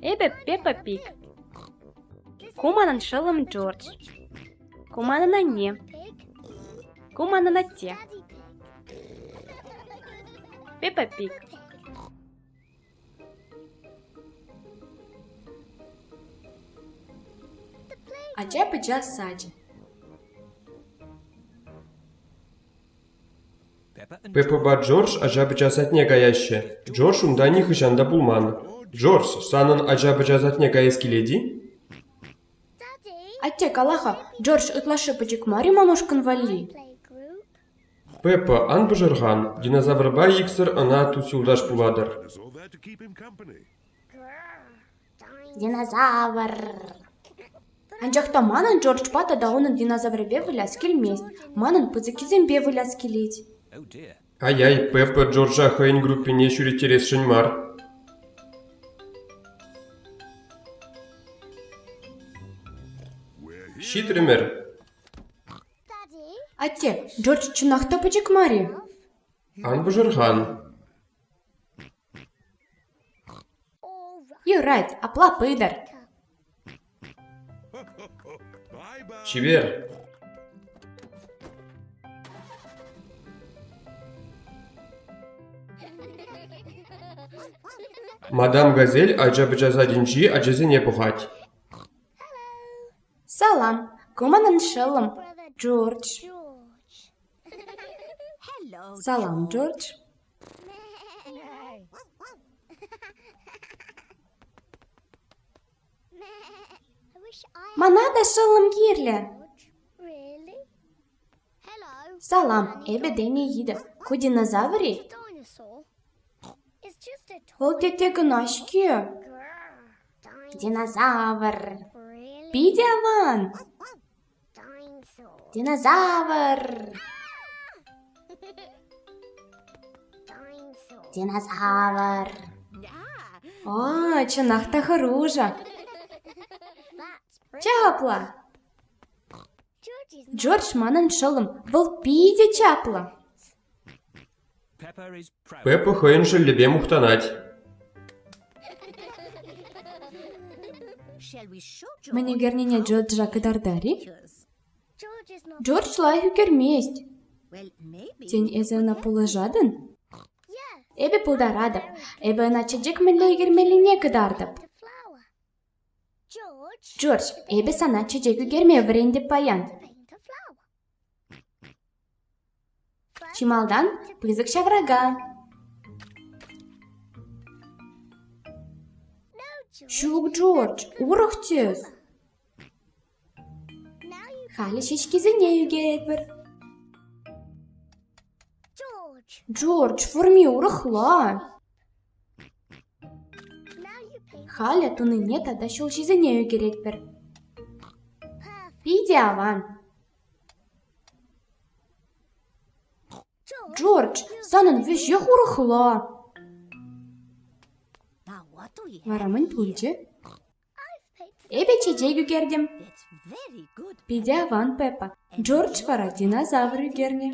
Эпӗ Пеппа Пиг. Ку манӑн шӑллӑм Джордж. Ку манӑн анне. Ку манӑн атте. Пеппа Пиг. Ача-пӑча сачӗ. Пепӑпа Джордж ача-пӑча садне каяҫҫӗ. Джордж унта нихӑҫан та пулман. Джордж, санӑн ача-пӑча садне каяс килет-и? Атте, кала-ха, Джордж ытлашши пӗчӗк мар-и мамашкӑн валли? Пеппа ан пӑшӑрхан, динозаврпа иксӗр ӑна тус-юлташ пулатӑр. Динозавр. Анчах та манӑн Джорджпа тата унӑн динозаврӗпе выляс килмест. Манӑн пысӑккисемпе выляс килет. Ай-ай, Пеппа Джорджа хӑйӗн группине ҫӳреттересшӗн мар. Ҫитрӗмӗр. Атте, Джордж чӑнах та пӗчӗк мар-и? Ан пӑшӑрхан. Юрать, апла пытӑр. Чипер! Мадам Газель ача-пӑча садӗнчи ачасене пӑхать. Салам, ку манӑн шӑллӑм, Джордж. Салам, Джордж. Мана та шӑллӑм кирлӗ. Салам, эпӗ Дени Идов. Ку динозаврий? Вӑл тетте кӑна-ҫке. Динозавр. Питӗ аван. Динозавр! Динозавр! О, чӑнах та хӑрушӑ! Чаплӑ! Джордж манӑн шӑллӑм, вӑл питӗ чаплӑ. Пеппа хӑйӗн шӑллӗпе мухтанать. Мӗн ӳкернине Джорджа кӑтартар-и? Джордж лайӑх ӳкермест. Тен, эсӗ ӑна пулӑшатӑн? Эпӗ пултаратӑп. Эпӗ ӑна чечек мӗнле ӳкермеллине кӑтартӑп. Джордж, эпӗ сана чечек ӳкерме вӗрентӗп паян. Чи малтан пысӑк ҫаврака, ҫук, Джордж, урӑх тӗс. Халӗ ҫеҫкисене ӳкетпӗр. Джордж, форми урӑхла. Халӗ тунине тата ҫулҫисене ӳкеретпӗр. Питӗ аван. Джордж, санӑн веҫех урӑхла. Вара мӗн пулчӗ? Эпӗ чечек ӳкертӗм. Питӗ аван, Пеппа. Джордж вара динозавр ӳкернӗ.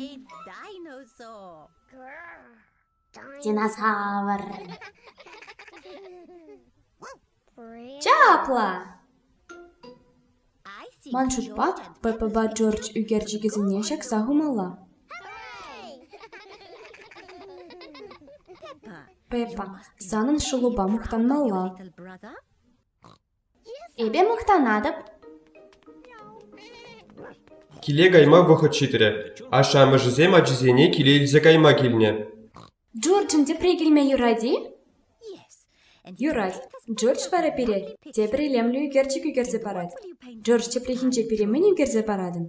Динозавр. Чапла! Ман шутпа, ППпа Джордж ӳкерчӗкӗсене ҫакса хумалла. Пеппа, санӑн шӑлупа мухтанмалла. Эпӗ мухтанатӑп. Киле кайма вӑхӑт ҫитрӗ. Ашшӗ-амӑшӗсем ачисене киле илсе кайма килнӗ. Джорджӑн тепре килме юрать-и? Юрать. Джордж вара пире тепӗр илемлӗ ӳкерчӗк ӳкерсе парать. Джордж тепрехинче пире мӗн ӳкерсе паратӑн?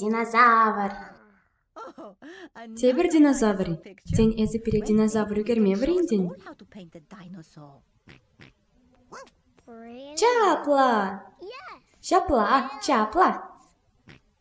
Динозавр. Тепӗр динозавр. Тен, эсӗ пире динозавр ӳкерме вӗрентӗн? Чапла! Ҫапла, чапла!